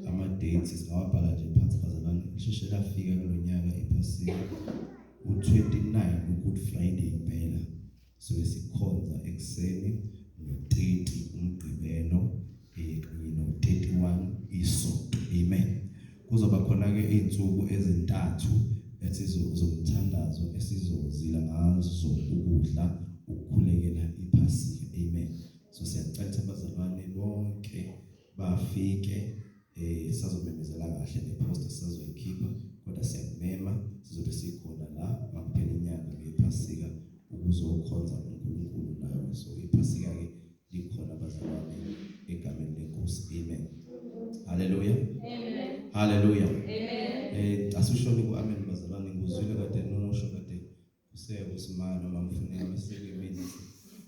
ama-dates singawabhala nje phansi bazalwane lisheshe lafika kulo nyaka iphasika u-29 u-good friday impela sobe sikhonza ekuseni no-30 umgqibelo kanye no-31 isonto amen kuzoba khona-ke iy'nsuku ezintathu esizomthandazo esizozila ngazo ukudla ukukhulekela iphasika amen so siyacela abazalwane bonke bafike eh sazomemezela kahle ngeposter sazoyikhipha kodwa siyakumema sizobe sikhona la makuphela inyanga ngephasika ukuzokhonza uNkulunkulu nawe so iphasika ke likhona bazalwane egameni lenkosi amen haleluya amen haleluya amen eh asishoni ku amen bazalwane ngizwile kade nosho kade Kuse usimani uma ngifuneka beseke mina.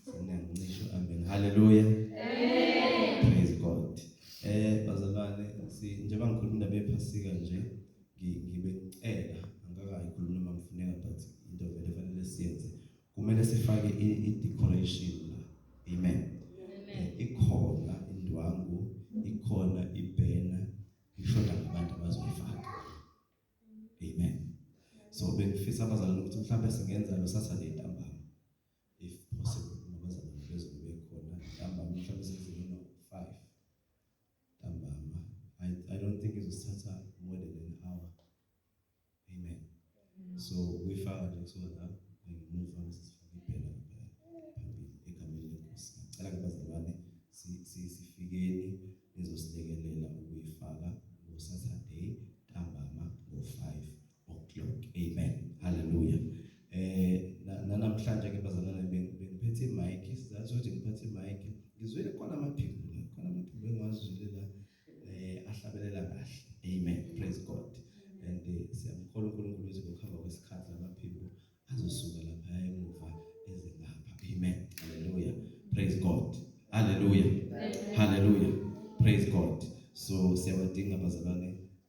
Sina ngisho amen. Hallelujah. Amen. Praise God. Eh bazalwane si njengoba ngikhuluma indaba yephasika nje ngibe ngicela angakayi khuluma uma ngifuneka but into vele fanele siyenze. Kumele sifake i decoration la. Amen. Amen. Eh, ikhona indwangu, ikhona ibhena, ngisho nabantu abazoyifaka. amen so bengifisa abazalwane ukuthi mhlawumbe singenza lo Saturday ntambama if possible nabazalwane bezobe khona ntambama mhlawumbe senzile no 5 ntambama i i don't think izosithatha more than an hour amen so kuyifaka nje so la ngimuva ngisifike phela phambili egameni lenkosi ngicela kubazalwane sifikeni ngizosilekelela ukuyifaka ngo Saturday ntambama ngo 5 o'clock amen hallelujah eh nanamhlanje ke bazalwane bengiphethe imic sizathu ukuthi ngiphethe imic ngizwile khona amaphimbo khona amaphimbo engiwazwile la eh ahlabelela kahle amen praise god and eh, siyamkholwa uNkulunkulu ukuthi ngokuhamba kwesikhathi lamaphimbo azosuka lapha emuva eze lapha amen haleluya praise god haleluya haleluya praise god so siyawadinga abazalwane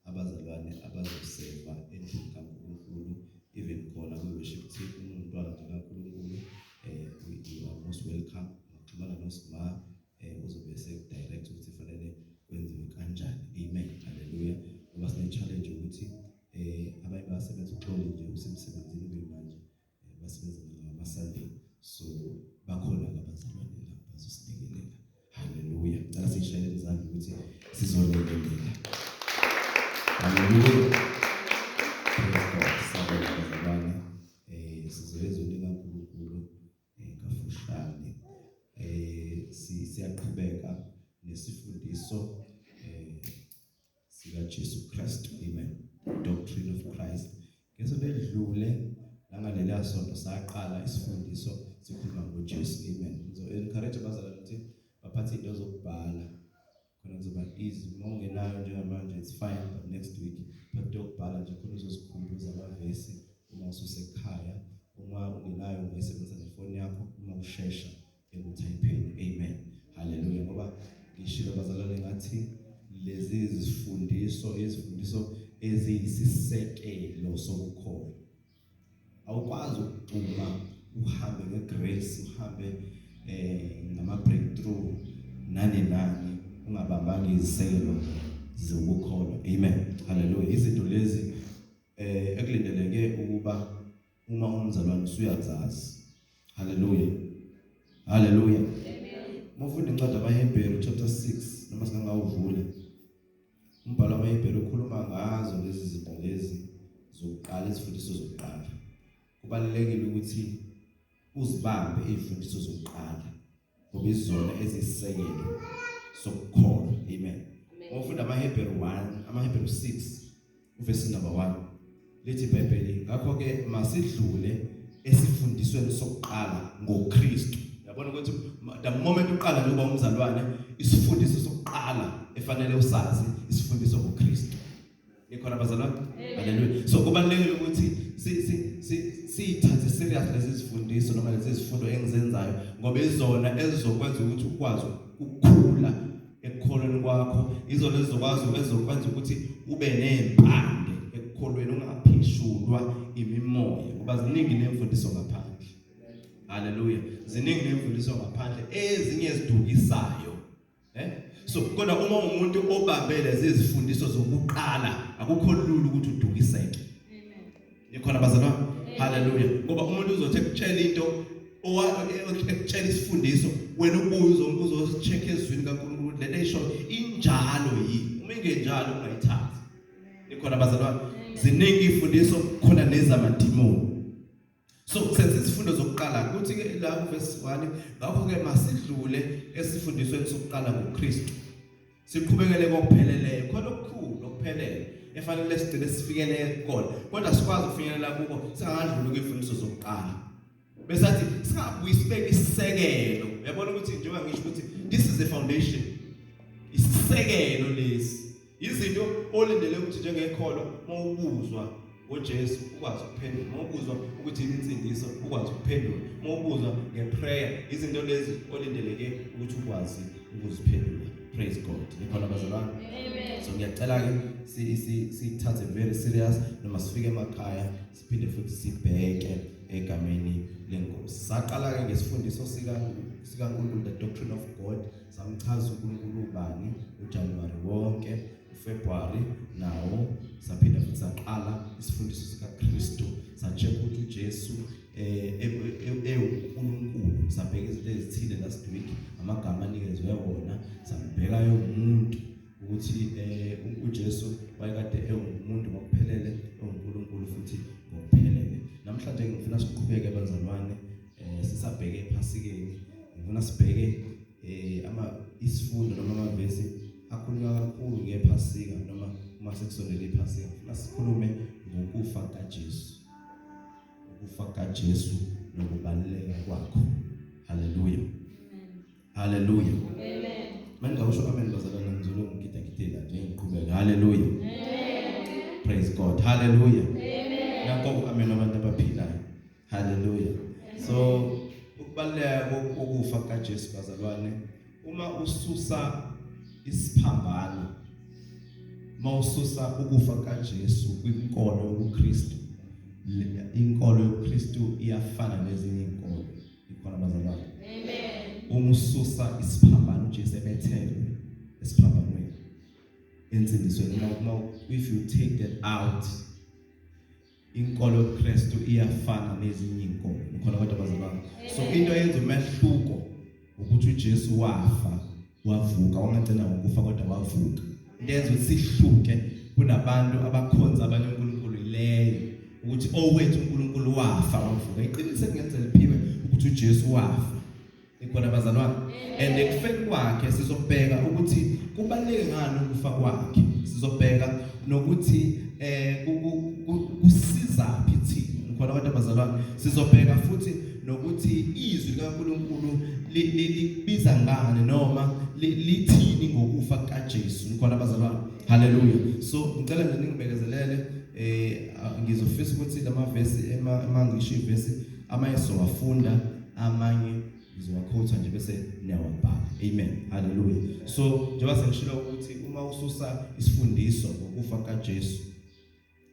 abazalwane abazoseva endlini kaNkulunkulu even khona kwi worship team umntwana kaNkulunkulu eh you are most welcome ngixhumana noSma eh uzobe sekudirect ukuthi kufanele kwenziwe kanjani amen haleluya ngoba sine challenge ukuthi eh abanye basebenza uxolo nje usemsebenzini kuyimanje eh, basebenza ngama Sunday so bakhona abazalwane lapho bazosilekelela haleluya ngicela sishayele izandla ukuthi sizolekelela haleluya kafushane eh siyaqhubeka nesifundiso eh sika Jesu Christ amen doctrine of Christ ngesonto elidlule nangaleliya sonto saqala isifundiso sikhuluma ngoJesu amen so encourage abazalwane ukuthi baphathe into zokubhala khona kuzoba easy uma ungenayo njengamanje it's fine but next week but dokubhala nje khona uzosikhumbuza amavesi uma ususekhaya uma ungenayo ungesebenzisa nefoni yakho uma ushesha ekuthayipheni amen haleluya ngoba ngishilo bazalwane ngathi lezi zifundiso izifundiso eziyisisekelo sokukhona awukwazi ukugcuma uhambe ngegrace uhambe eh ngama breakthrough nani nani ungabambanga iziselo zokukholwa amen haleluya izinto lezi eh ekulindeleke ukuba uma umzalwane usuyazazi haleluya haleluya amen mufunda incwadi abaHebheru chapter 6 noma singangawuvula Umbhalo wamaHebheru ukhuluma ngazo lezi zinto lezi zokuqala izifundiso zokuqala. Kubalulekile ukuthi uzibambe izifundiso zokuqala ngoba izona ezisisekelo sokukholwa. Amen. Uma ufunda amaHebheru 1, amaHebheru 6 Uvesi number 1 lithi iBhayibheli ngakho ke masidlule esifundisweni sokuqala ngoKristu. Yabona ukuthi the moment uqala nje uba umzalwane isifundiso sokuqala efanele usazi isifundiso ngoKristu. Nikhona bazalwane? Haleluya. So kubalekile ukuthi si si si sithathe serious lezi zifundiso noma lezi zifundo engizenzayo ngoba izona ezizokwenza ukuthi ukwazi ukukhula ekukholweni kwakho izona ezizokwazi ezokwenza ukuthi ube nempande ekukholweni ungaphishulwa imimoya ngoba ziningi nemfundiso ngaphandle haleluya ziningi nemfundiso ngaphandle ezinye zidukisayo eh so kodwa uma umuntu obambele zizifundiso zokuqala akukho lula ukuthi udukiseke Nikhona bazalwane? Haleluya. Ngoba umuntu uzothi ekutshela into owa ekutshela isifundiso wena ubuye uzombuzo uzocheck ezwini kaNkulunkulu lento eyisho injalo yini. Uma ingenjalo ungayithathi. Nikhona bazalwane? Ziningi ifundiso khona nezamadimoni. So senze isifundo zokuqala kuthi ke la verse 1 ngakho ke masidlule esifundisweni sokuqala ngoKristu. siqhubekele kokupheleleyo khona okukhulu okuphelele efanele sigcine sifikele kona kodwa sikwazi ukufinyelela kuko singakadluli kwimfundiso zokuqala besathi singabuyi sibeke isisekelo yabona ukuthi njengoba ngisho ukuthi this is the foundation isisekelo lesi izinto olindele ukuthi njengekholo mawubuzwa ngoJesu ukwazi ukuphendula uma ubuzwa ukuthi insindiso ukwazi ukuphendula uma ubuzwa ngeprayer izinto lezi olindeleke ukuthi ukwazi ukuziphendula praise god nikhona bazalwane amen so ngiyacela ke si si sithathe very serious noma sifike emakhaya siphinde futhi sibheke egameni lenkosi saqala ke ngesifundiso sika sikaNkulunkulu the doctrine of god samchaza uNkulunkulu ubani uJanuwari wonke uFebruary nawo saphinda futhi saqala isifundiso sikaKristu sacheck ukuthi uJesu eh, eh, eh, ewuNkulunkulu sabheka izinto ezithile last week amagama anikezwe wona sambheka yomuntu ukuthi uJesu wayekade ewumuntu ngokuphelele ewuNkulunkulu futhi ngokuphelele namhlanje ngifuna siqhubeke bazalwane eh sisabheke ephasikeni ngifuna sibheke eh ama isifundo noma amavesi akhulunywa kakhulu ngephasika noma uma sekusondele iphasika ngifuna sikhulume ngokufa kaJesu ukufa kaJesu nokubaluleka kwakho haleluya haleluya amen manje ngawusho amen bazalwane ngizolo ngigida gidela nje ngiqhubeka haleluya amen praise god haleluya amen nakho amen abantu abaphilayo haleluya so ukubaluleka kokufa kukaJesu bazalwane uma ususa isiphambano mawususa ukufa kukaJesu kwinkolo yobuKristu inkolo yobuKristu iyafana nezinye inkolo ikhona bazalwane amen umususa isiphambano uJesu ebethele esiphambanweni ensindisweni uma if you take that out inkolo yobuKristu iyafana nezinye inkolo khona kodwa bazalwane so into eyenza umehluko ukuthi uJesu wafa wavuka wangagcina ngokufa kodwa wavuka into eyenza ukuthi sihluke kunabantu abakhonza abanye uNkulunkulu ileyo ukuthi owethu uNkulunkulu wafa wavuka iqiniso kungenzeka liphiwe ukuthi uJesu wafa ikhona abazalwane and ekufeni kwakhe sizobheka ukuthi kubaluleke ngani ukufa kwakhe sizobheka nokuthi eh kusiza phi thina khona abantu abazalwane sizobheka futhi nokuthi izwi likaNkuluNkulu libiza ngani noma lithini ngokufa kaJesu khona abazalwane haleluya so ngicela nje ningibekezelele eh ngizofisa ukuthi lama verse emangisho ivesi amanye sizowafunda amanye ngizowakhotha nje bese niyawabhala amen haleluya so njengoba sengishilo ukuthi uma ususa isifundiso ngokufa kaJesu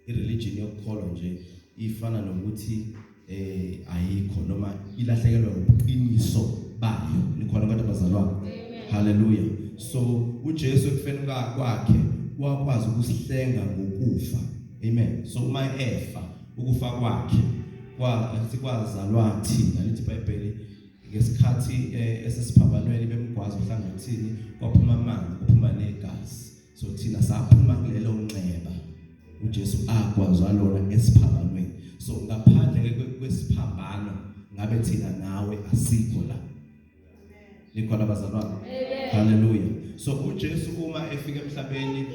ireligion yokukholwa nje ifana nokuthi eh ayikho noma ilahlekelwa ubuqiniso bayo nikhona abantu abazalwana haleluya so uJesu ekufeni kwakhe wakwazi ukusihlenga ngokufa amen so uma efa ukufa kwakhe kwazalwa thina lithi iBhayibheli ngesikhathi eh, esesiphambanweni bemgwaza uhlangothini kwaphuma amanzi kuphuma negazi so thina saphuma kulelo nxeba uJesu akwazwa lona esiphambanweni so ngaphandle kwesiphambano ngabe thina nawe asikho la nikhona bazalwane haleluya so uJesu uma efika emhlabeni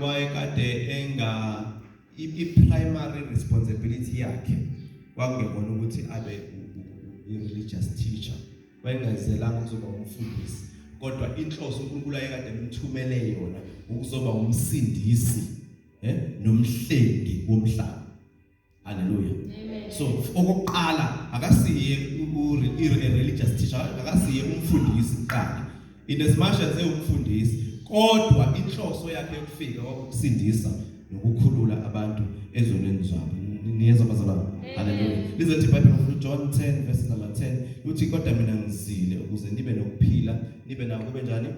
wayekade enga I-primary responsibility yakhe kwakungekona ukuthi abe i-religious teacher wayengazelanga ukuzoba umfundisi kodwa inhloso uNkulunkulu ayekade emthumele yona ukuzoba umsindisi eh nomhlengi womhlaba haleluya so okokuqala akasiye i-religious teacher akasiye umfundisi kuqala in as much as ewumfundisi kodwa inhloso yakhe yokufika kwakusindisa nokukhulula abantu ezonweni zabo niyezwa bazalwane haleluya lizothi ibhayibheli ngofuna ujohn 10 verse number 10 uthi kodwa mina ngizile ukuze nibe nokuphila nibe nawo kube njani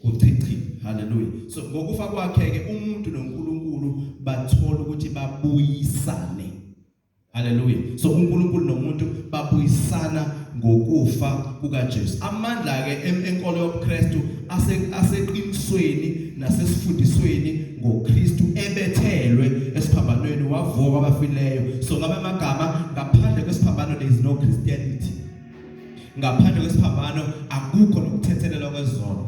kuchichi haleluya so ngokufa kwakhe-ke umuntu nonkulunkulu bathola ukuthi babuyisane Haleluya. So uNkulunkulu nomuntu babuyisana ngokufa kukaJesu. Amandla ke enkolo yobuKristu aseqinisweni nasesifundisweni ngoKristu ebethelwe esiphambanweni wavuka kwabafileyo. So ngamanye amagama ngaphandle kwesiphambano there is no Christianity. Ngaphandle kwesiphambano akukho nokuthethelelwa kwezono.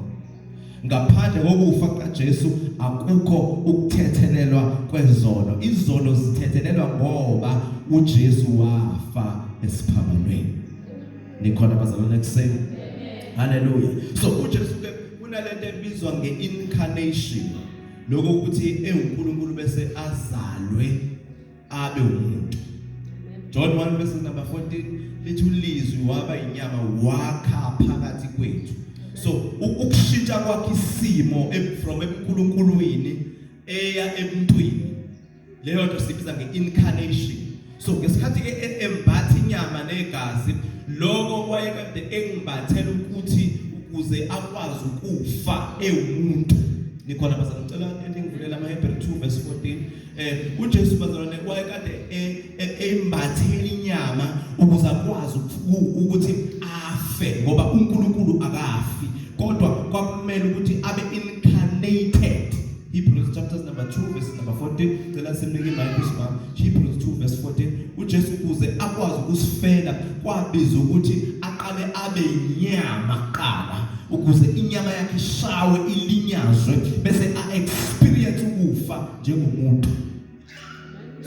Ngaphandle kokufa kaJesu akukho ukuthethelelwa kwezono. Izono zithethelelwa ngoba uJesu wafa esiphambanweni. Nikhona bazalwane kuseni. Haleluya. So uJesu ke kunalento ebizwa ngeincarnation. Lokho ukuthi enguNkulunkulu bese azalwe abe umuntu John 1 verse number 14 lithi ulizwi waba inyama wakha phakathi kwethu so ukushintsha kwakhe isimo from ebuNkulunkulwini eya emntwini leyo nto sibiza ngeincarnation so ngesikhathi ke e-, embatha inyama negazi lokho wayekade engimbathela ukuthi ukuze akwazi ukufa ewumuntu nikhona bazangicela eningivulele amaHebrew 2 verse 14 eh uJesu bazalwane wayekade e, e, embathele inyama ukuze akwazi ukuthi afe ngoba uNkulunkulu akafi kodwa kwakumele ukuthi abe incarnated Hebrews chapters number 2 verse number 14 cela simnike iBhayibheli sibam Hebrews 2 verse 14 uJesu kuze akwazi ukusifela kwabiza ukuthi aqale abe inyama qala ukuze inyama yakhe ishawe ilinyazwe bese a experience ukufa njengomuntu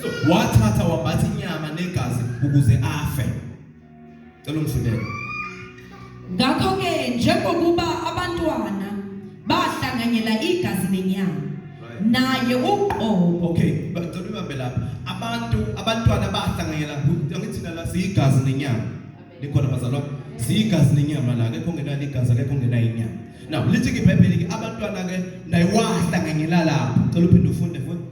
so wathatha wambatha inyama negazi ukuze afe cela umzindelo ngakho ke njengokuba abantwana bahlanganyela igazi nenyama naye uqobo okay bacela ubambe lapha abantu abantwana bahlanganyela ngithina la siyigazi nenyama likhona bazalwa siyigazi nenyama la kekho ngenani igazi kekho ngenani inyama now lithi ibhayibheli ke abantwana ke nayiwahla ngengilalapho cela uphinde ufunde futhi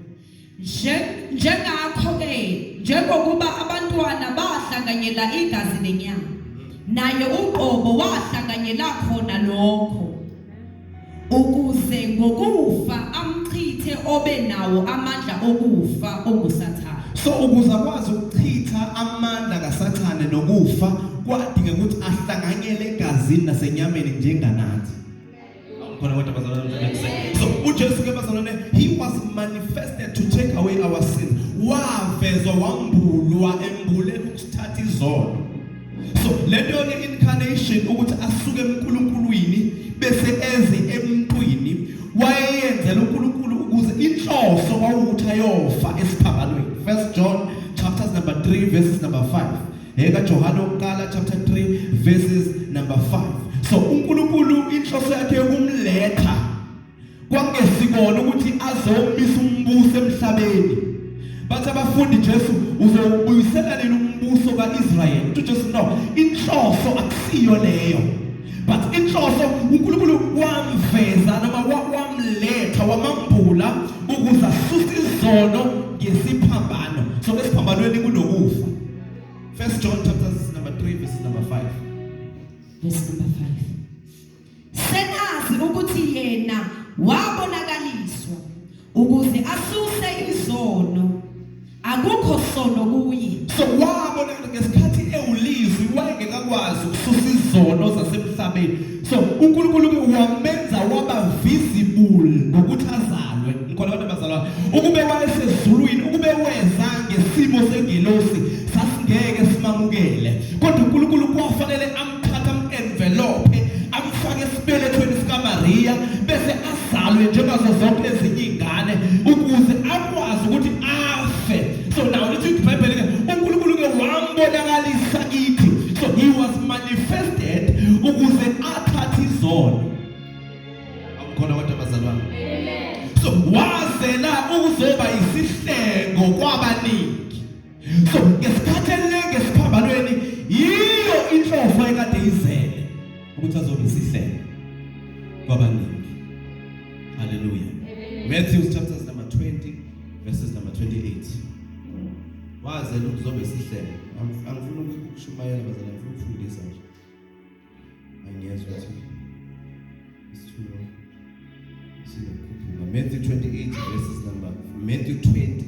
njengakho ke njengokuba abantwana bahlanganyela igazi nenyama naye uqobo wahlanganyela khona lokho ukuze ngokufa amchithe obe nawo amandla okufa ongusathane so ukuze akwazi ukuchitha amandla kasathane nokufa kwadinga ukuthi ahlanganyele egazini nasenyameni njenganathi khona kodwa bazalwane so uJesu ke bazalwane he was manifested to take away our sins wavezwa wambulwa embuleni ukuthatha izono so lento ke incarnation ukuthi asuke eNkulunkulwini bese eze emntwini wayeyenzela uNkulunkulu ukuze inhloso kwawukuthi ayofa esiphambanweni first john chapters number 3 verses number 5 eka johane wokuqala chapter 3 verses number 5 so uNkulunkulu inhloso yakhe yokumletha kwakungesikona ukuthi azowumisa umbuso emhlabeni bathi abafundi Jesu uzowubuyisela nini umbuso kaIsrayeli uthi Jesu no inhloso akusiyo leyo but inhloso uNkulunkulu wamveza noma wamletha wamambula ukuze asuse izono ngesiphambano so esiphambanweni kunokufa first John chapter number 3 verse number 5 verse number 5 Senazi ukuthi yena wabonakaliswa ukuze asuse izono. Akukho sono kuye. So wabonakala ngesikhathi ewulizwi wayengekakwazi ukususa izono zasemhlabeni. So uNkulunkulu ke wamenza waba visible ngokuthi azalwe. Ngikhola abantu abazalwa. Ukube wayesezulwini, ukube weza ngesimo sengelosi sasingeke simamukele. Kodwa uNkulunkulu kwafanele amthatha amu-envelophe amfake esibelethweni sikamariya bese azalwe njengazo zonke ezinye iy'ngane ukuze akwazi ukuthi afe so now lithi ibhayibheli ke unkulunkulu-ke wambonakalisa kithi so he was manifested ukuze athathe izono akukhona kodwa bazalwane so wazela ukuzoba yisihlengo kwabaningi so ngesikhathi elenge esiphambanweni yiyo inhloso ekade izele ukuthi azobe sihlele kwabaningi haleluya Matthew chapter number 20 verses number 28 wazela ukuzobe sihlele angifuni ukushumayela bazana ngifuna ukufundisa nje angiyezwa ukuthi isithulo siyakhuphuka Matthew 28 verses number Matthew 20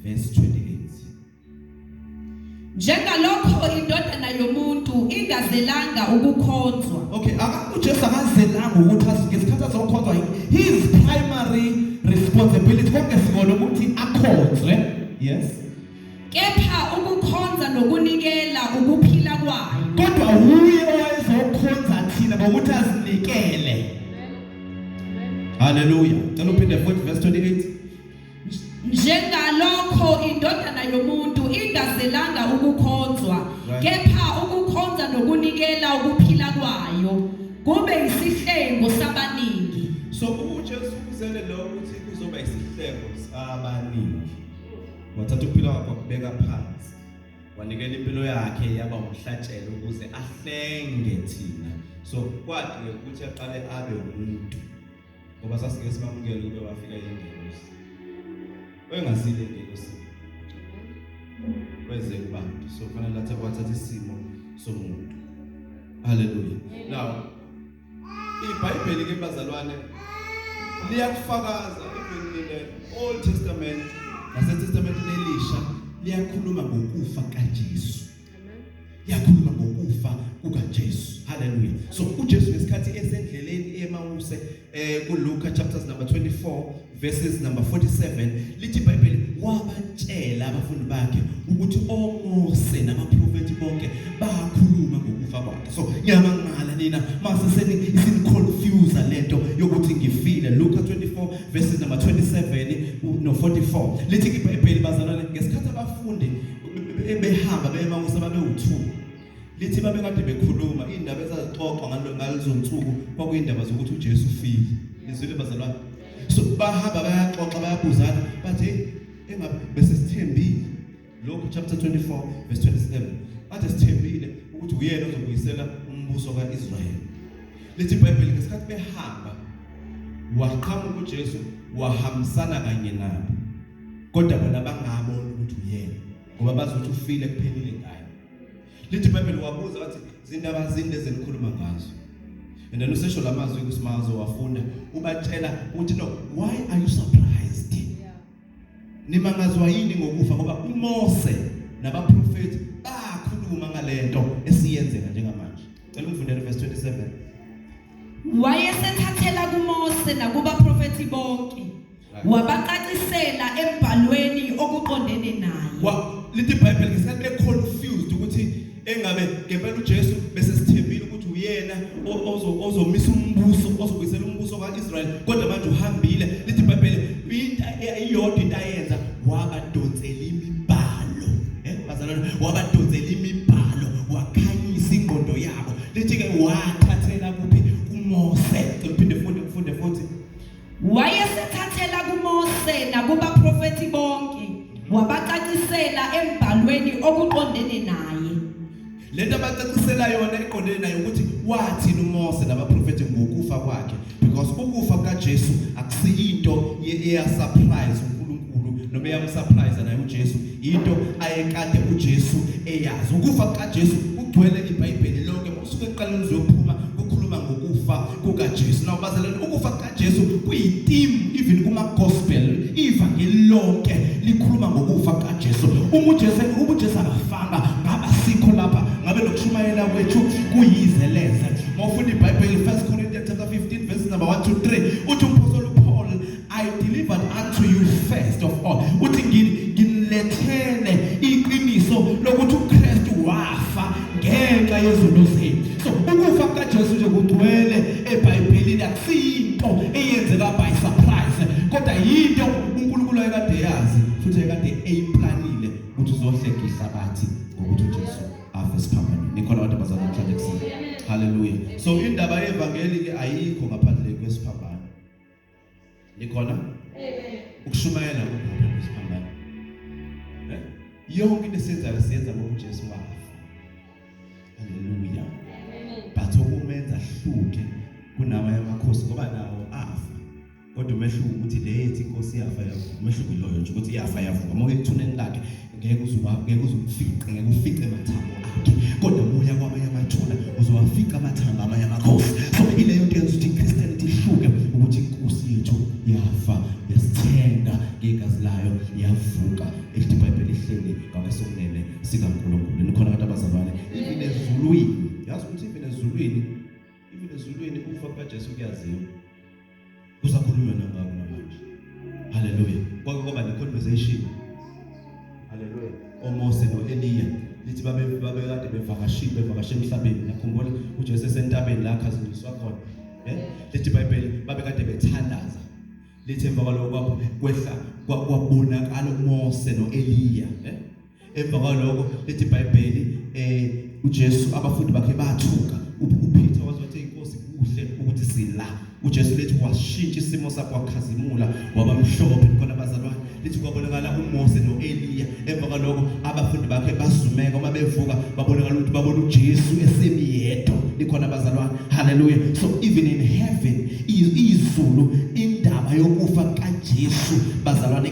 verse 28 njengalokho indodana yomuntu ingazelanga ukukhonzwa okay uJesu akazelanga ukuthi ngesikhathi azokhonzwa his primary responsibility konke sikona ukuthi akhonzwe yes kepha ukukhonza nokunikela ukuphila kwayo kodwa wuye owayezokhonza thina ngokuthi azinikele haleluya cela uphinde 40 verse 28 njengalokho indodana yomuntu ingazelanga ukukhonzwa kepha ukukhonza nokunikela ukuphila kwayo kube isihlengo sabaningi so uJesu uzele lokho ukuthi kuzoba isihlengo sabaningi wathatha ukuphila kwakhe wakubeka phansi wanikela impilo yakhe yaba umhlatshelo ukuze ahlenge thina so kwadinge ukuthi aqale abe umuntu ngoba sasike simamukele ukube wafika ingelosi oyengazile ingelosi kweze kubantu so kufanele athathe kwathatha isimo somuntu haleluya now IBhayibheli ke bazalwane liyakufakaza ibhekile Old Testament nase Testament lelisha liyakhuluma ngokufa kaJesu. Liyakhuluma ngokufa kukaJesu. Hallelujah. So uJesu ngesikhathi esendleleni eMawuse eh kuLuka chapters number 24 verses number 47 lithi iBhayibheli wabatshela abafundi bakhe ukuthi oMose namaprofeti bonke bakhuluma ngokufa kwakhe so ngiyamangala nina mase seni isinconfuse lento yokuthi ngifile Luka 24 verses number 27 no 44 lithi iBhayibheli bazalwane ngesikhathi abafundi behamba bema usababe u2 Lithi babekade bekhuluma iy'ndaba ezazixoxwa ngalo- ngalezo nsuku kwakuyindaba zokuthi ujesu ufile nizwile bazalwane so bahamba bayaxoxa bayabuzana bathi "Hey, engabe bese sithembile lokhu chapter 24 verse 27 bathe sithembile ukuthi uyena ozobuyisela umbuso ka-israyeli lithi ibhayibheli ngesikhathi behamba waqhamuka ujesu wahambisana kanye nabo kodwa bona bangaboni ukuthi uyena ngoba bazi ukuthi ufile kuphelile ngayo lithi ibhayibheli wabuza wathi zindaba zinde zenikhuluma ngazo and then usesho la mazwi kusimazo wafunda ubatshela ukuthi no why are you surprised yeah. nimangazwa yini ngokufa ngoba uMose nabaprofeti bakhuluma ngalento esiyenzeka njengamanje cela ungifundele verse 27 wayesethathela kuMose nakubaprofeti bonke wabacacisela embhalweni okuqondene naye Wa- lithi ibhayibheli ngesikhathi be-confused ukuthi engabe ngempela ujesu besesithembile ukuthi uyena o- ozo- ozomisa umbuso ozobuyisela umbuso ka-israyeli kodwa manje uhambile lithi ibhayibheli into e- iyodwa into ayenza wabadonsela imibhalo Eh, bazalwane wabadonsela imibhalo wakhanyisa ingqondo yabo lithi-ke wathathela kuphi kumose Cela uphinde funde ufunde futhi Wayesethathela kuMose nakubaprofethi bonke wabacacisela embhalweni okuqondene naye. Lento abacacisela yona iqondene naye ukuthi wathini uMose nabaprofethi ngokufa kwakhe because ukufa kukaJesu akusiyinto eya surprise uNkulunkulu noma eyamsurprise naye uJesu into ayekade uJesu eyazi ukufa kukaJesu kugcwele iBhayibheli lonke usuke eqala uzophuma kukhuluma ngokufa kukaJesu now bazalwane ukufa kukaJesu kuyitheme even kuma gospel ivangeli lonke likhuluma ngokufa kukaJesu uma uJesu uma uJesu akafanga ngaba sikho lapha ngabe nokushumayela kwethu kuyize leze mawufunda iBhayibheli 1 Corinthians chapter 15 verse number 1 to 3 uthi umphostoli I delivered unto you first of all uthi nginilethele iqiniso lokuthi uKristu wafa ngenxa yezono zenu so ukufa kukaJesu nje kugcwele eBhayibhelini akusiyinto eyenzeka by surprise kodwa yinto uNkulunkulu ayekade yazi futhi ayekade eyiplanile ukuthi uzohleka ihlabathi ngokuthi uJesu afe siphambanweni nikhona abantu abazana namhlanje kusini haleluya so indaba yevangeli ke ayikho ngaphandle kwesiphambano Nikhona? Amen. Ukushumayela ukuphi kusiphambana? Eh? Yonke into esiyenzayo siyenza ngoba uJesu wafa. Haleluya. Amen. But ukumenza hluke kunawa yamakhosi ngoba nawo afa. Kodwa umehluko ukuthi le yethi inkosi yafa yavuka. Umehluko iloyo nje ukuthi yafa yavuka. Uma uyithuneni lakhe ngeke uzuwa ngeke uzumfiqe ngeke ufiqe amathambo akhe kodwa ubuya kwamanye amathuna uzowafiqa amathambo amanye amakhosi so ileyo nto yenza ukuthi ichristianity ihluke ukuthi inkosi yethu yafa yasithenga ngegazi layo yavuka elithi ibhayibheli ihleli ngakwesonene sikankulunkulu nikhona abantu abazalwane even ezulwini yazi ukuthi even ezulwini even ezulwini ukufa kukajesu kuyaziwa kusakhulunywa nangabo namanje haleluya kwake kwaba ne-conversation haleluya omose no-eliya lithi babekade bevakashile bevakashe emhlabeni nakhumbula ujesu esentabeni la akhazindiswa khona um lithi ibhayibheli babekade bethandaza lithi emva kwaloko kwehla kwabonakala umose no-eliya um emva kwaloko lithi ibhayibheli um ujesu abafundi bakhe bathuka upeter waze wathi inkosi kuhle ukuthi sila ujesu lethi washintsha isimo sakho wakhazimula waba mhlophe khona abazalwane lithi kwabonakala umose no-eliya emva kwaloko abafundi bakhe bazumeka uma bevuka babonakala ukuthi babona ujesu esemi yedwa likhona abazalwane haleluya so even in heaven izulu indaba yokufa kajesu bazalwane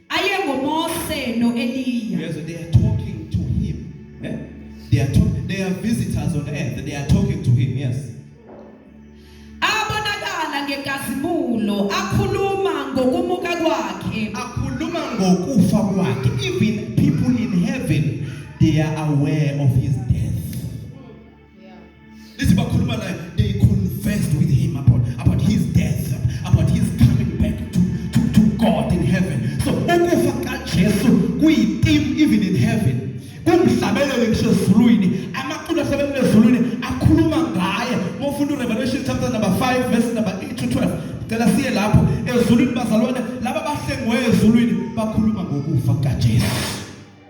ayengoMose noEliya Yes, they are talking to him. Eh? They are talk- they are visitors on earth. They are talking to him. Yes. abonakala ngenkazimulo akhuluma ngokumuka kwakhe Akhuluma ngokufa kwakhe. Even people in heaven, they are aware of his Lithi bakhuluma naye they confessed with him about about his death about his coming back to to, to God in heaven. So ukufa kaJesu kuyitim even in heaven. Kumhlabelele ngisho ezulwini amaculo ahlabelele ezulwini akhuluma ngaye. Mofunda uRevelation chapter number 5 verse number 8 to 12. Cela siye lapho ezulwini bazalwane laba bahlengiweyo ezulwini bakhuluma ngokufa kaJesu.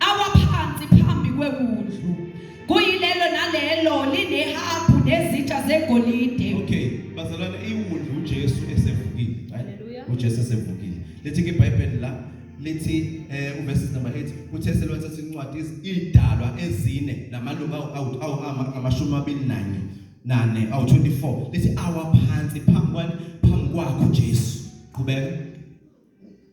awaphansi phambi kwewundlu kuyilelo nalelo linehabhu nezitsha zegolide okay bazalwane iwundlu uJesu esevukile right uJesu esevukile lethi ke iBhayibheli la lithi eh uverse number 8 uthe selwatha sincwadi idalwa ezine namalunga awu amashumi amabili nanye nane awu 24 lithi awaphansi phambi kwani phambi kwakho Jesu qhubeka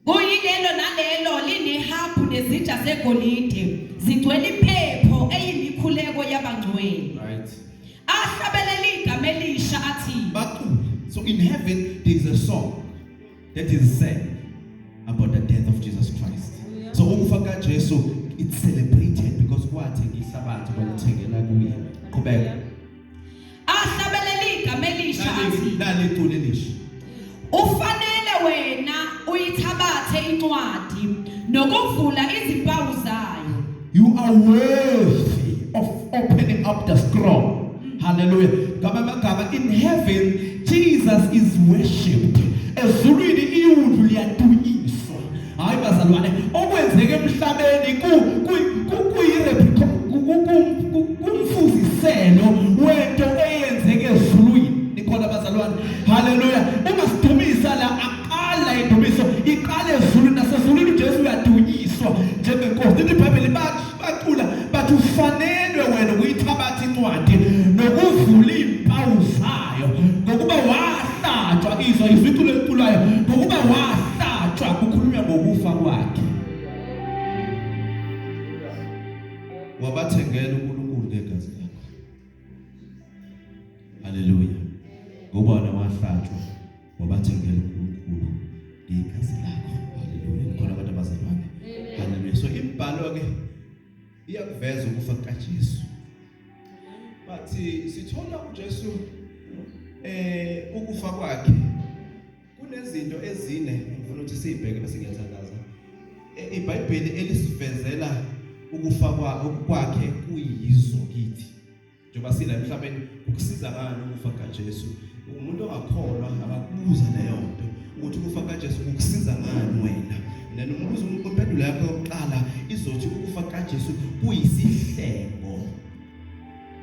Kuyilelo nalelo linehabhu nezitsha zegolide zigcwele impepho eyimikhuleko yabangcwele. Right. Ahlabelela igama elisha athi Bacule. So in heaven there is a song that is sang about the death of Jesus Christ. So ukufa kaJesu it's celebrated because kwathi ngihlabathi kwamthengela kuye. Qhubeka. ahlabelele igama elisha athi lale culo elisha ufanele wena uyithabathe incwadi nokuvula izimpawu zayo you are worthy of opening up the scroll hallelujah ngaba magama in heaven jesus is worshipped ezulwini iwundlu liyadunyiswa hayi bazalwane okwenzeke emhlabeni ku kumfuziselo wento eyenzeke ezulwini nikhona bazalwane haleluya ungasidumisa la aqala indumiso iqale ezulwini nasezulwini uJesu uyadunyiswa njengenkosi ibhayibheli bathi bacula bathi ufanelwe wena ukuyithabatha incwadi nokuvula iimpawu zayo ngokuba wahlatshwa izwa izwi iculo eliculayo ngokuba wahlatshwa kukhulunywa ngokufa kwakhe wabathengela uNkulunkulu ngegazi lakho haleluya ngoba wahlatshwa wabathengela uNkulunkulu ngegazi lakho haleluya ngikhola abantu abazalwane haleluya so imbhalo ke iyakuveza ukufa kukaJesu but sithola uJesu eh ukufa kwakhe kunezinto ezine ngifuna ukuthi sibheke bese ngiyathandaza eh, iBhayibheli elisivezela ukufa kwakhe kuyizo kithi njengoba sila emhlabeni ukusiza ngani ukufa kaJesu umuntu ongakholwa akakubuza leyo nto ukuthi ukufa kaJesu ukusiza ngani wena nani umbuzo impendulo yakho yokuqala izothi ukufa kaJesu kuyisihlengo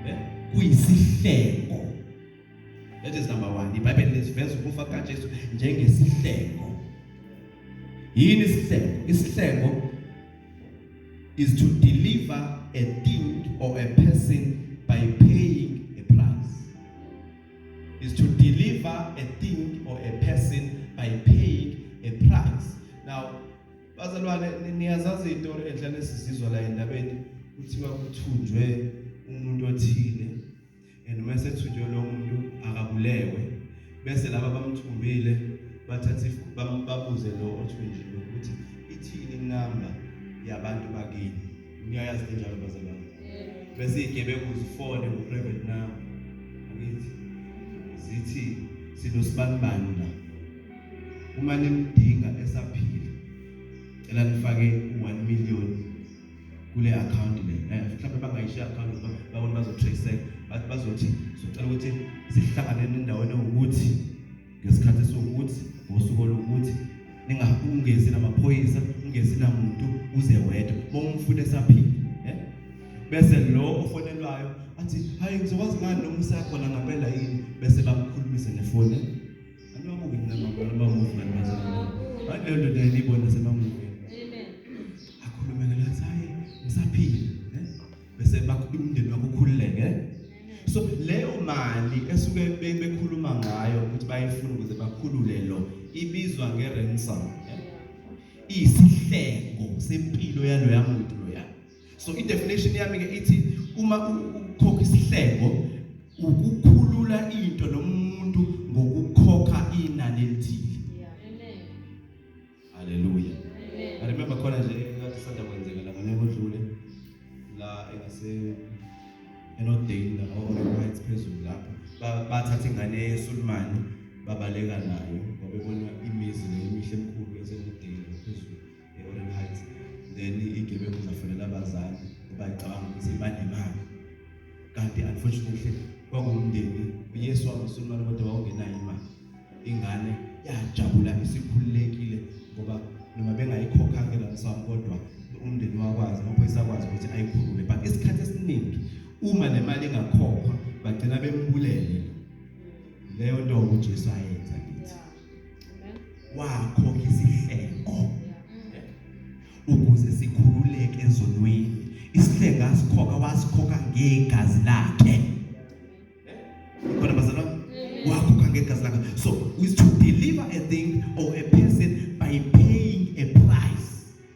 eh kuyisihlengo That is number 1. IBhayibheli lesiveza ukufa kukaJesu njengesihlengo. Yini isihlengo? Isihlengo is to deliver a thing or a person by paying a price. Is to deliver a thing or a person by paying a price. Now, bazalwane niyazazi into enhlane sizizwa la endabeni kuthiwa kuthunjwe umuntu othile and uma esethunjwe lo muntu akabulewe bese laba bamthumbile bathathe babuze lo othunjiwe ukuthi ithini inamba yabantu bakini niyayazi kanjalo bazalwane bese igebengu zifone ku-private number angithi zithi sinosibanibani la uma nimdinga esaphila cela nifake u-1 million kule akhawunti le eh, mhlawumbe bangayishiya akhawunti babona bazotraceka bazothi socela ukuthi sihlangane nendaweni ewukuthi ngesikhathi sokuthi ngosuku olukuthi ningakungezi namaphoyisa ungezi namuntu uze wedwa bomfuna esaphila eh? bese lo ofonelwayo athi hayi ngizokwazi ngani noma usakhona ngampela yini bese bakukhulumisa nefoni Anobuke mina mama noma mufi kanti bazalwa. Manje leyo ndoda yayibona semamuke. Amen. Akhulume ngalo athi hayi ngisaphila. eh? Bese bakho- umndeni wakho ukhululeke. eh? So leyo mali esuke be- bekhuluma ngayo ukuthi bayifuna ukuze bakhulule lo ibizwa nge-ransom. eh? Iyisihlengo sempilo yaloya muntu loya. so i definition yami ke ithi uma ukhokha isihlebo ukukhulula into nomuntu ngokukhokha inani elithile amen haleluya amen i remember khona nje ngathi sanda kwenzeka la ngonyaka odlule la engase enodale la or right phezulu lapho bathatha ingane yesulumani babaleka nayo ngoba ebona imizi nemihle emkhulu yasenodale phezulu e-Orient Heights then igebengu zafonela abazali ngoba icabanga ukuthi banemali kanti unfortunately kwakuwumndeni uyesu wamusulumane kodwa wawungenayo imali ingane yajabula isikhululekile ngoba noma bengayikhokha ke la msamo kodwa umndeni wakwazi amaphoyisa akwazi ukuthi ayikhulule but isikhathi esiningi uma le mali ingakhokhwa bagcina bembulele leyo nto uJesu ayenza kithi wakho ngesihleko ukuze sikhululeke ezonweni isihleko asikhokha wasikhokha ngegazi lakhe khona bazalwa wakhokha ngegazi lakhe so is to deliver a thing or a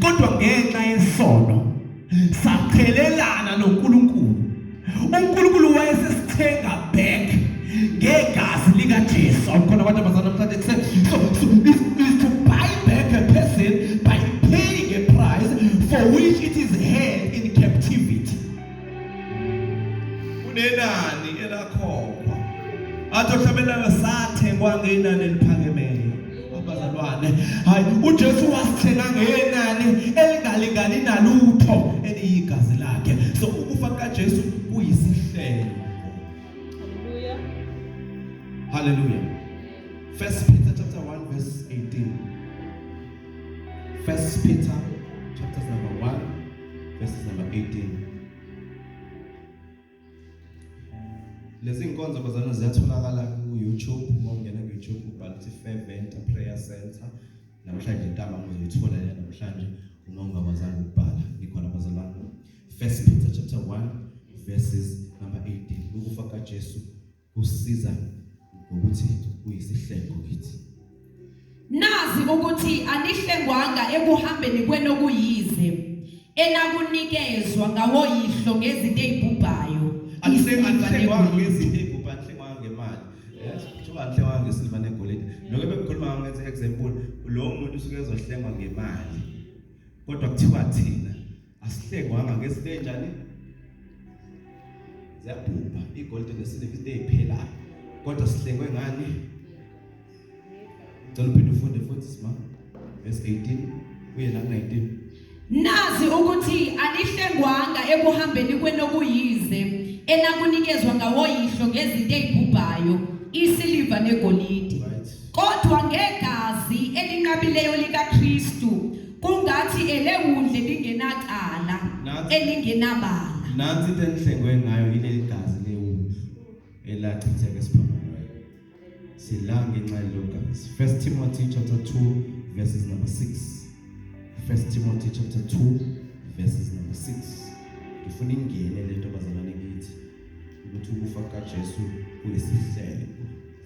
kodwa ngenxa yesono saqhelelana noNkulunkulu uNkulunkulu wayesesithenga back ngegazi likaJesu awukhona abantu abazana namhlanje kuse so, so is, is to buy back a person by paying a price for which it is held in captivity kunenani elakhokhwa athi ohlabelana sathengwa ngenani eliphakemeyo abazalwane hayi uJesu wasithenga ngenani elingalingani nalutho eliyigazi lakhe so ukufa kaJesu kuyisihlelo haleluya first peter chapter 1 verse 18 first peter verse number 18 lezi nkonzo bazana ziyatholakala ku YouTube uma ungena ku YouTube ubhala ukuthi Fervent Prayer Center namhlanje intaba uzoyithola le namhlanje uma ungabazanga ukubhala ngikhona bazalwane First Peter chapter 1 verses number 18 ukufa kaJesu Usisiza ngokuthi uyisihlengo kithi. Nazi ukuthi anihlengwanga ekuhambeni kwenu okuyize enakunikezwa ngawoyihlo ngezinto ezibhubhayo. Anihlengwanga ngezinto ezibhubhayo, anihlengwanga ngemali. Kuthiwa anihlengwanga ngesilva negolide. Lokho bekukhuluma ngawo ngenze example, lo muntu usuke ezohlengwa ngemali. Kodwa kuthiwa thina asihlengwanga ngezinto enjani ziyabhubha igolide nesiliva into eziphelayo kodwa sihlengwe ngani ngicela uphinde ufunde futhi sima verse 18 kuye la 19 nazi ukuthi anihlengwanga ekuhambeni kwenokuyize enakunikezwa ngawoyihlo ngezinto ezibhubhayo isiliva negolide Kodwa ngegazi elinqabileyo likaKristu kungathi elewundle lingenacala Nathi- elingenabala. nansi into engihlengwe ngayo yileli gazi lewundlu elachitheka esiphambanweni sila ngenxa yelo gazi 1 timothy chapter 2 verses number 6 1 timothy chapter 2 verses number 6 ngifuna ingene le nto bazalwane kithi ukuthi ukufa kukajesu kuyisihlelo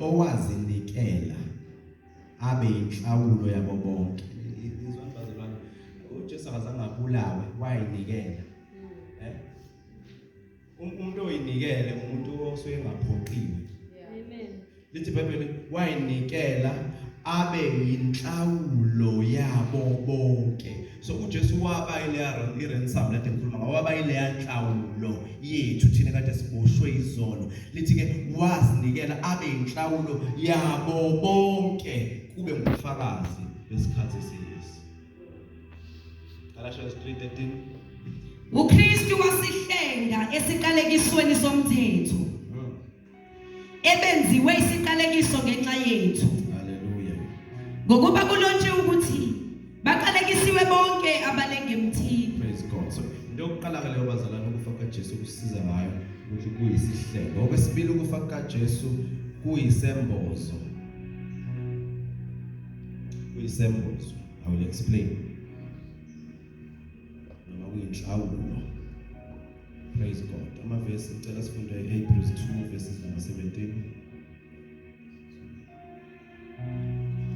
owazinikela abe inhlawulo yabo bonke izwani bazalwane uJesu akazange abulawe wayinikela eh um, umuntu oyinikele umuntu osuke engaphoqiwe amen lithi bhayibheli wayinikela abe inhlawulo yabo bonke so uJesu waba ileya iransom lade ngikhuluma ngawo waba ileya nhlawulo yethu thina kade siboshwe izono lithi ke wazinikela abe inhlawulo yabo bonke kube ngufakazi besikhathi siyisi Galatians 3:13 uKristu wasihlenga esiqalekisweni somthetho ebenziwe isiqalekiso ngenxa yethu haleluya ngokuba kulontshe ukuthi baqalekisiwe bonke abalengemthini praise god so into yokuqala ke leyo bazalana ukufa kukaJesu kusiza ngayo ukuthi kuyisihlelo okwesibili ukufa kukaJesu kuyisembozo kuyisembozo i will explain noma kuyinhlawulo praise god amavesi ngicela sifunde hebrews 2 verses number 17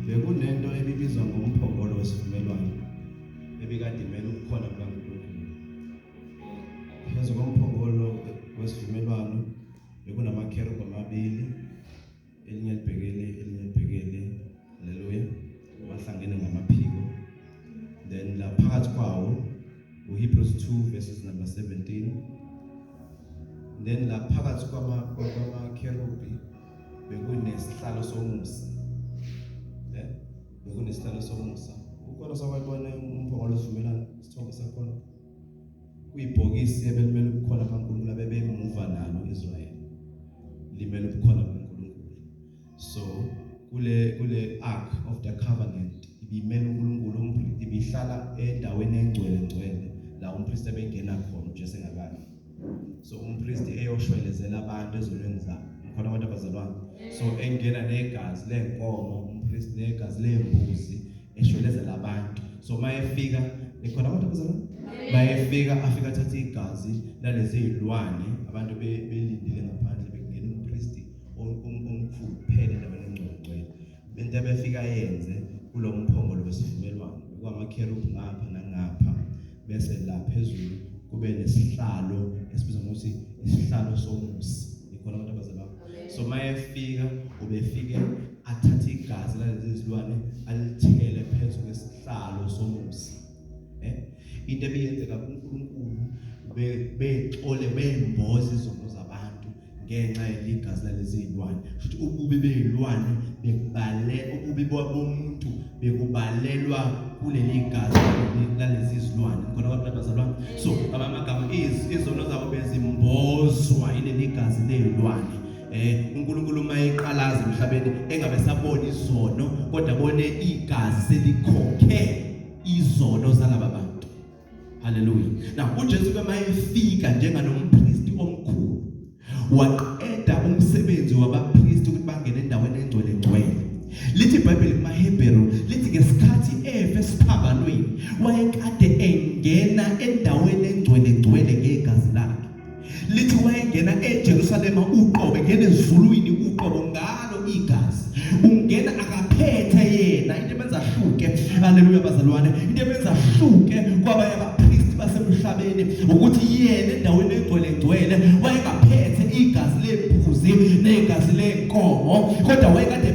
bekunento ebibizwa ngomphongolo wesivumelwano ebikade imele ukukhona kukaNkulunkulu. Phezu komphongolo wesivumelwano bekunamakherubhi amabili elinye libhekele elinye libhekele haleluya wahlangene ngamaphiko then la phakathi kwawo uHebrews 2 verses number 17 then la phakathi kwama kwama kerubi bekunesihlalo somusa eh bekunesihlalo somusa ukhona sakwayibona umphongolo sivumelana isithombe sakhona kuyibhokisi ebelimele ukukhona kaNkulunkulu abebemuva nalo Israel limele ukukhona kaNkulunkulu so kule kule ark of the covenant ibimele uNkulunkulu umpristi ibihlala endaweni engcwele ngcwele la umpristi ebengena khona uJesu engakafi so umpristi eyoshwelezela abantu ezonweni zabo khona abantu abazalwane so engena negazi lenkomo umpristi negazi lembuzi eshwelezela abantu so mayefika ekhona abantu abazalwane mayefika afika athatha igazi lalezi zilwane abantu belindile ngaphandle bekungena umpristi omkhulu phela endaweni engcwele Le nto ebefika yenze kulo mphongolo wesivumelwano kwamakherubhi ngapha nangapha bese la phezulu kube nesihlalo esibizwa ngokuthi isihlalo somusi ikhona abantu abazalwa so mayefika ubefike athathe igazi lalezi zilwane alithele phezu kwesihlalo somusi eh into ebiyenzeka kuNkulunkulu bexole bemboza izono ngenxa yegazi lalezi zilwane futhi ububi bezilwane bekubale ububi bomuntu bekubalelwa kuleli gazi lalezi zilwane khona abantu abazalwa so abamagama izono zabo bezimbozwa ileli gazi lezilwane eh uNkulunkulu uma eqalaza emhlabeni engabe sabona izono kodwa bone igazi selikhokhe izono zalaba bantu Haleluya. Na uJesu ke mayefika njenganompristi omkhulu waqeda umsebenzi wabapristi ukuthi bangene endaweni engcwele ngcwele. Lithi iBhayibheli kumaHebheru lithi ngesikhathi efe esiphambanweni wayekade engena endaweni engcwele ngcwele ngegazi lakhe. lithi wayengena eJerusalema uqobo engena ezulwini uqobo ngalo igazi ungena akaphethe yena into ebenza ahluke haleluya bazalwane into ebenza ahluke kwabanye abapristi basemhlabeni ukuthi yena endaweni egcwele ngcwele wayengaphethe igazi lembuzi negazi lenkomo kodwa wayekade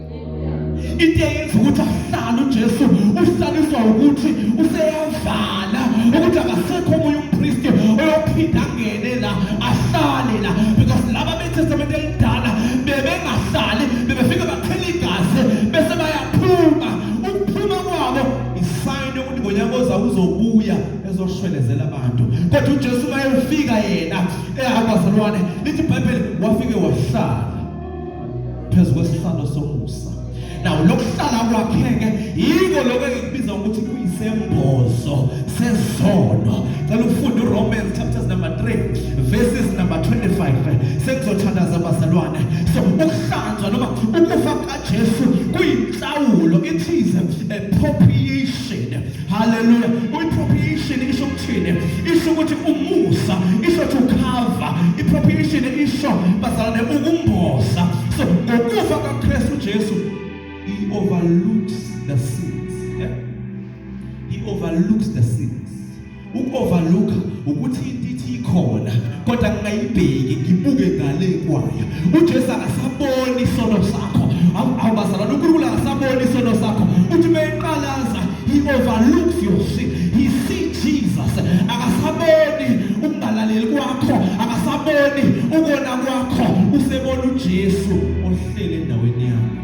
into eyenza ukuthi ahlale uJesu uhlaliswa ukuthi useyavala ukuthi akasekho omunye umpristi oyophinda angene la ahlale la because laba betestamente elidala bebengahlali bebefike baqhela igazi bese bayaphuma ukuphuma kwabo isayini yokuthi ngonyaka oza uzobuya ezoshwelezela abantu kodwa uJesu mayefika yena ehamba zalwane lithi iBhayibheli wafike wahlala phezu kwesihlalo somusa nawo lokuhlala kwakheke yiko lokho engikubiza ukuthi kuyisembozo sezono cela ufunde uRomans chapters number 3 verses number 25 sekuzothandaza abazalwane so ukuhlanzwa noma ukufa kaJesu kuyinhlawulo it is a propitiation Hallelujah. Propitiation isho ukuthini? Isho ukuthi umusa, isho to cover. Propitiation isho bazalwane ukumboza. So ngokufa kaKristu Jesu he overlooks the sins. Yeah? He overlooks the sins. Ukoverlooka ukuthi into ikhona kodwa ngingayibheki ngibuke ngale kwayo uJesu akasaboni isono sakho awubazalwana uNkulunkulu akasaboni isono sakho uthi beyiqalaza he overlooks your sin he see Jesus akasaboni ukungalaleli kwakho akasaboni ukona kwakho usebona uJesu ohlele endaweni yakho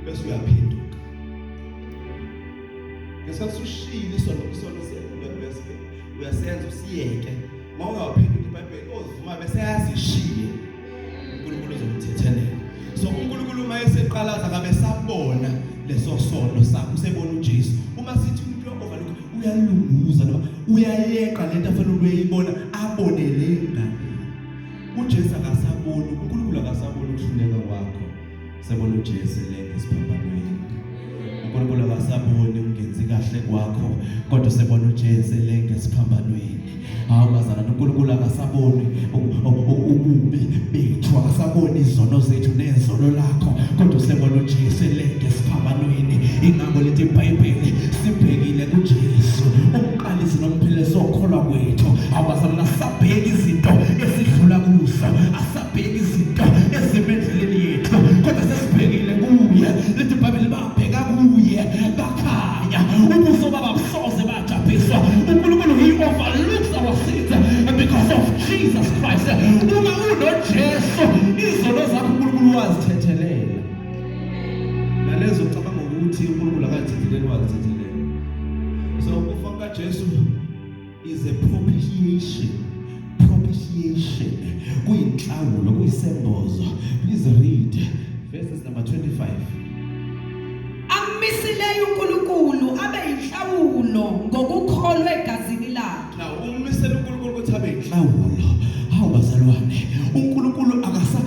bese uyaphinduka ngesikhathi ushilo isono isono siyeke uyasenza usiyeke uma ungawaphenduli ibhayibheli ozivuma bese yazishiye unkulunkulu uzokuthethelela so unkulunkulu uma eseqalaza kabe sabona leso sono sakho usebona ujesu uma sithi umuntu ovaluk uyalunguza noma uyayeqa le nto afanele uyeyibona abone le ngane ujesu akasaboni unkulunkulu akasaboni ukuhluleka kwakho Sebona uJesu elenge esiphambanweni. uNkulunkulu akasaboni ungenzi kahle kwakho kodwa usebona uJesu elenge esiphambanweni hawu bazalwane uNkulunkulu akasaboni ububi bethu akasaboni izono zethu nezono lakho kodwa usebona uJesu elenge esiphambanweni ingakho lithi iBhayibheli sibhekile kuJesu umqalisi nomphelezo okholwa kwethu awubazalwana sabheka izinto esidlula kuzo sibheki izinto ezimendleleni yethu kodwa sesibhekile kuye lithi ibhayibheli babheka kuye bakhanya ubuso baba busoze bajabhiswa unkulunkulu he overlooks our sins because of jesus christ uma unojesu izono zakho unkulunkulu wazithethelela nalezo cabanga ukuthi unkulunkulu akazithetheleli wazithethelela so ukufa kukajesu is a propitiation propitiation kuyinhlawulo kuyisembozo please read verses number 25 amisileyo uNkulunkulu abe inhlawulo ngokukholwa egazini lakhe now umisela uNkulunkulu ukuthi abe inhlawulo hawu bazalwane uNkulunkulu akasa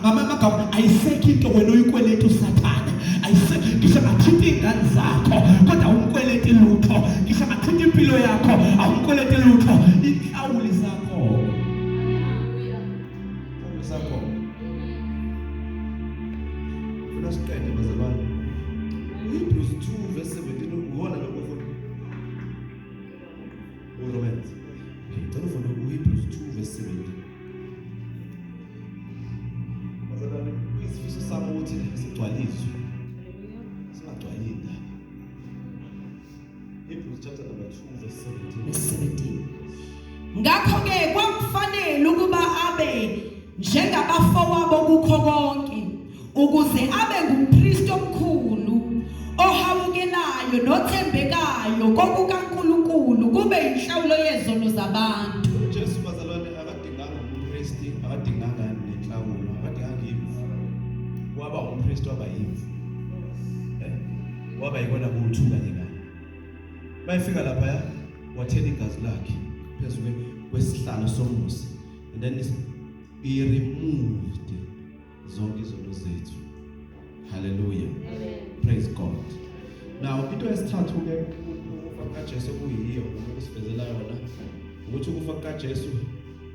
ngamanye amagama ayisekho into wena uyikweleta usathane ayisekho ngisho ngathinte iy'ngane zakho kodwa awumkweleti lutho ngisho ngathinte impilo yakho awumkweleti lutho inhlawuli zakho zakho funa siqede bazalwane uhebrews 2 verse 17 ukhona lokho futhi uromans ngicela ufune uhebrews 2 verse 17 isifiso sami ukuthi sigcwaliswe singagcwali indaba Hebrews chapter number 2 verse 17 ngakho ke kwakufanele ukuba abe njengabafowabo kukho konke ukuze abe ngumpristi omkhulu ohawukelayo nothembekayo kokukaNkulunkulu kube inhlawulo yezono zabantu uJesu bazalwane akadinganga umpristi akadinganga nenhlawulo akadinganga imvu waba umpristi waba imvu eh, waba yikona kuthuka kanye kanye bayefika lapha ya wathela igazi lakhe phezulu kwesihlalo somusa and then he removed zonke izono zethu haleluya praise god now into yesithathu ke ukufa kaJesu kuyiyo ukusivezela yona ukuthi ukufa kaJesu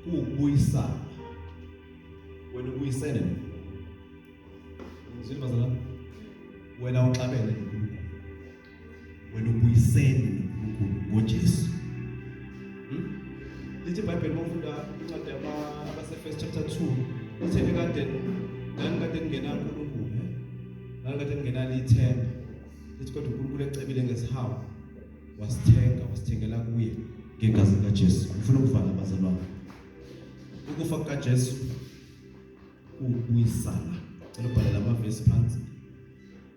kuwukubuyisana wena ubuyisene ngizwe bazalwane wena uxabene wena ubuyisene noNkulunkulu ngoJesu hmm? lithi ibhayibheli mawufunda incwadi abasefirst chapter 2 lithi ekade ngangikade ngingenankulunkulu ngangikade ngingenalo ithemba lithi kodwa unkulunkulu ecebile ngesihawu wasithenga wasithengela kuye ngegazi likajesu ngifuna ukuvala abazalwane ukufa kukajesu kuwubuyisana cela ubhalela amavesi phansi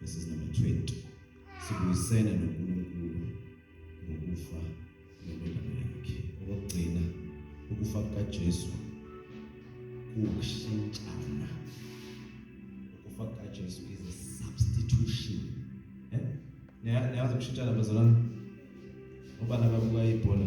verses number 20 sibuyisene noNkulunkulu ngokufa nendodana yakhe okugcina ukufa kukaJesu kushintshana ukufa kukaJesu is a substitution eh niyazi ukushintshana bazalwane ubana babuka ibhola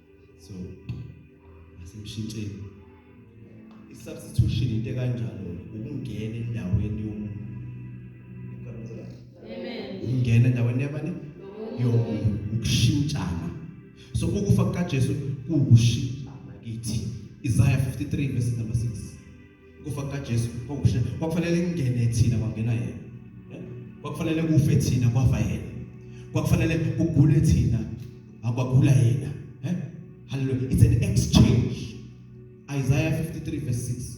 so asimshintsheni i-substitution into ekanjalo ukungena endaweni yomuntu ukungena endaweni yabani yomuntu ukushintshana so ukufa kukajesu kuwukushintshana kithi isaya 53 verse number 6 Ukufa kukaJesu kwakushe kwakufanele kungene thina kwangena yena. Eh? Kwakufanele kufe thina kwafa yena. Kwakufanele kugule thina akwagula yena. Eh? Hallelujah. It's an exchange. Isaiah 53 verse 6.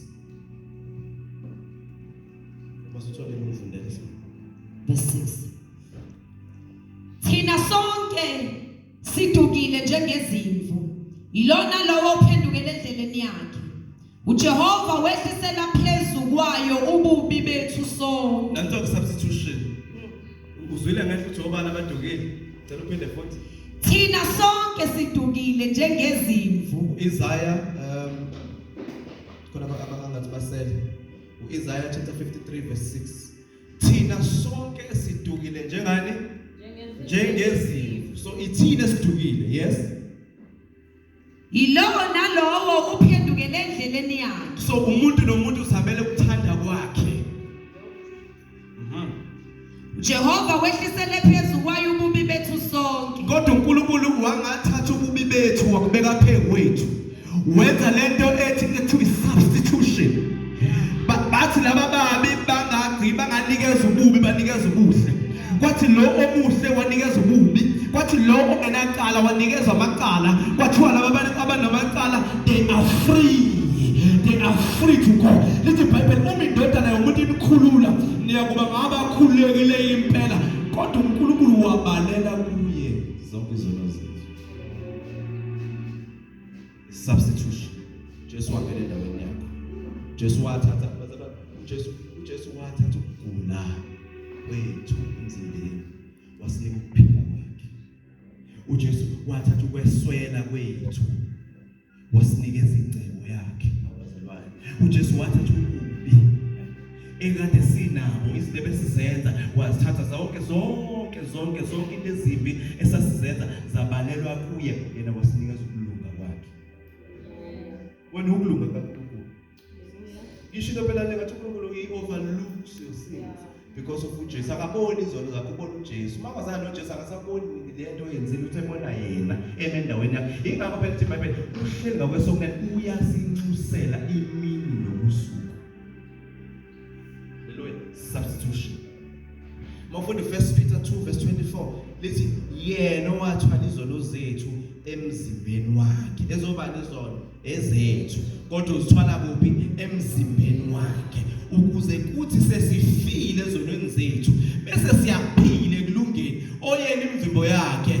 Masithole ngokufundela. Verse 6. Thina sonke Sidukile njengezimvu, yilona lowo ophendukele endleleni yakhe. UJehova wehlisela phezu kwayo ububi bethu sonke. Nanso ke substitution. Uzwile ngehlo uJehova abadukile. Cela uphinde futhi. Thina sonke sidukile njengezimvu. Isaiah um khona abangathi basele. UIsaiah chapter 53 verse 6. thina sonke sidukile njengani njengezimvu so ithina sidukile yes yilowo nalowo uphendukele endleleni yakhe so umuntu nomuntu uzamele ukuthanda kwakhe mhm. Jehova wehlisele phezu kwayo ububi bethu sonke kodwa uNkulunkulu wangathatha ububi bethu wakubeka phezu kwethu wenza lento ethi kuthiwa substitution bathi laba babi bangagci banganikeza ububi banikeza ubuhle kwathi lo omuhle wanikeza ububi kwathi lo ongenacala wanikeza amacala kwathiwa laba abantu abanamacala they are free they are free to go lithi ibhayibheli uma indodana yomuntu inikhulula niyakuba ngabakhululekileyo impela kodwa unkulunkulu wabalela kuye zonke izono substitution Jesu wangena endaweni yakho Jesu wathatha Jesu uJesu wathatha ukugula kwethu emzimbeni wasinika ukuphila kwakhe uJesu wathatha ukweswela kwethu wasinika izingcebo yakhe abazalwane uJesu wathatha ekade sinabo izinto ebesizenza wazithatha zonke zonke zonke zonke into ezimbi esasizenza zabalelwa kuye yena wasinikeza ukulunga kwakhe wena ukulunga kaNkulunkulu ngisho into phela ngathi uNkulunkulu uyi overlooks your sins because of uJesu akaboni izono zakho ubona uJesu uma kwazana noJesu akasaboni lento oyenzile uthe bona yena eme endaweni yakhe ingakho phela ithi iBhayibheli uhleli ngakwesokunene uyasinxusela imini nobusuku Haleluya. Substitution. Mawufunda 1 Peter 2 verse 24 lithi yena owathwala izono zethu emzimbeni wakhe. Ezobani izono? Ezethu. Kodwa uzithwala kuphi? Emzimbeni wakhe. Ukuze kuthi sesifile ezonweni zethu bese siyaphila ekulungeni oyena imvimbo yakhe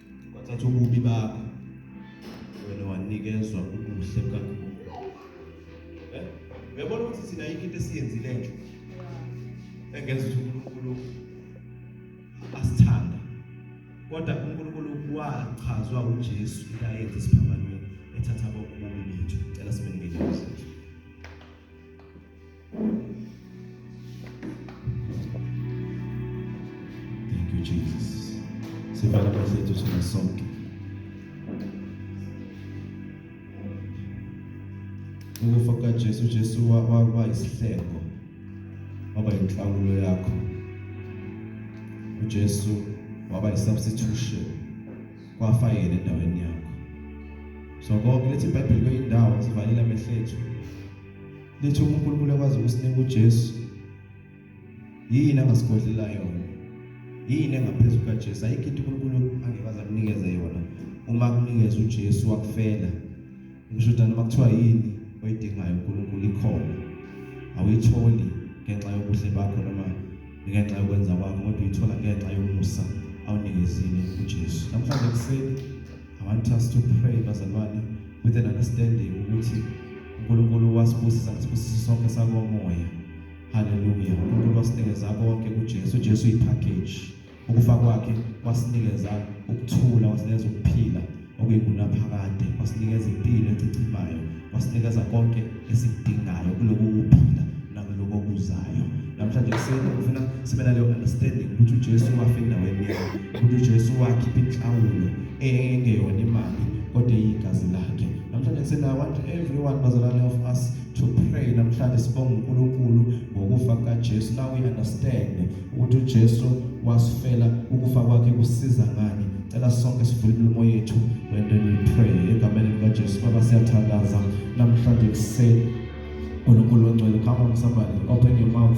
wathatha ububi bakho wena wanikezwa ubuhle bukaNkulunkulu eh? uyabona ukuthi thina yikho into esiyenzile nje engenza ukuthi uNkulunkulu asithanda kodwa uNkulunkulu wachazwa uJesu into ayenza esiphambanweni ethatha kokubi bethu cela sibe ngelinye Jesu Jesu waba isihleko waba inhlawulo yakho uJesu waba isubstitution kwafa yena endaweni yakho so konke lethi iBhayibheli kweyindawo sivalile amehlo ethu Lethu uNkulunkulu akwazi ukusinika uJesu. Yini angasigodlela yona? Yini engaphezu kukaJesu? Ayikho into uNkulunkulu angekwazi akunikeze yona. Uma kunikeza uJesu wakufela. Ngisho ukuthi noma kuthiwa yini oyidingayo uNkulunkulu ikhona. Awuyitholi ngenxa yobuhle bakho noma ngenxa yokwenza kwakho kodwa uyithola ngenxa yomusa awunikezile uJesu. Namhlanje kuseni I want us to pray bazalwane with an understanding ukuthi uNkulunkulu wasibusisa ngesibusisi sonke sakomoya haleluya uNkulunkulu wasinikeza konke kuJesu uJesu uyipackage ukufa kwakhe wasinikeza ukuthula wasinikeza ukuphila okuyingunaphakade wasinikeza impilo ecichimayo wasinikeza konke esikudingayo kuloku kuphila nakuloko kuzayo namhlanje kuseni ngifuna sibe naleyo understanding ukuthi uJesu wafa endaweni yakhe ukuthi uJesu wakhipha inhlawulo engeyona imali kodwa eyigazi lakhe namhlanje kuseni i want everyone bazalwane of us to pray namhlanje sibonga uNkulunkulu ngokufa kukaJesu now we understand ukuthi uJesu wasifela ukufa kwakhe kusiza ngani cela sonke sivule imilomo yethu and then we pray egameni likaJesu baba siyathandaza namhlanje kuseni uNkulunkulu ongcwele come on somebody open your mouth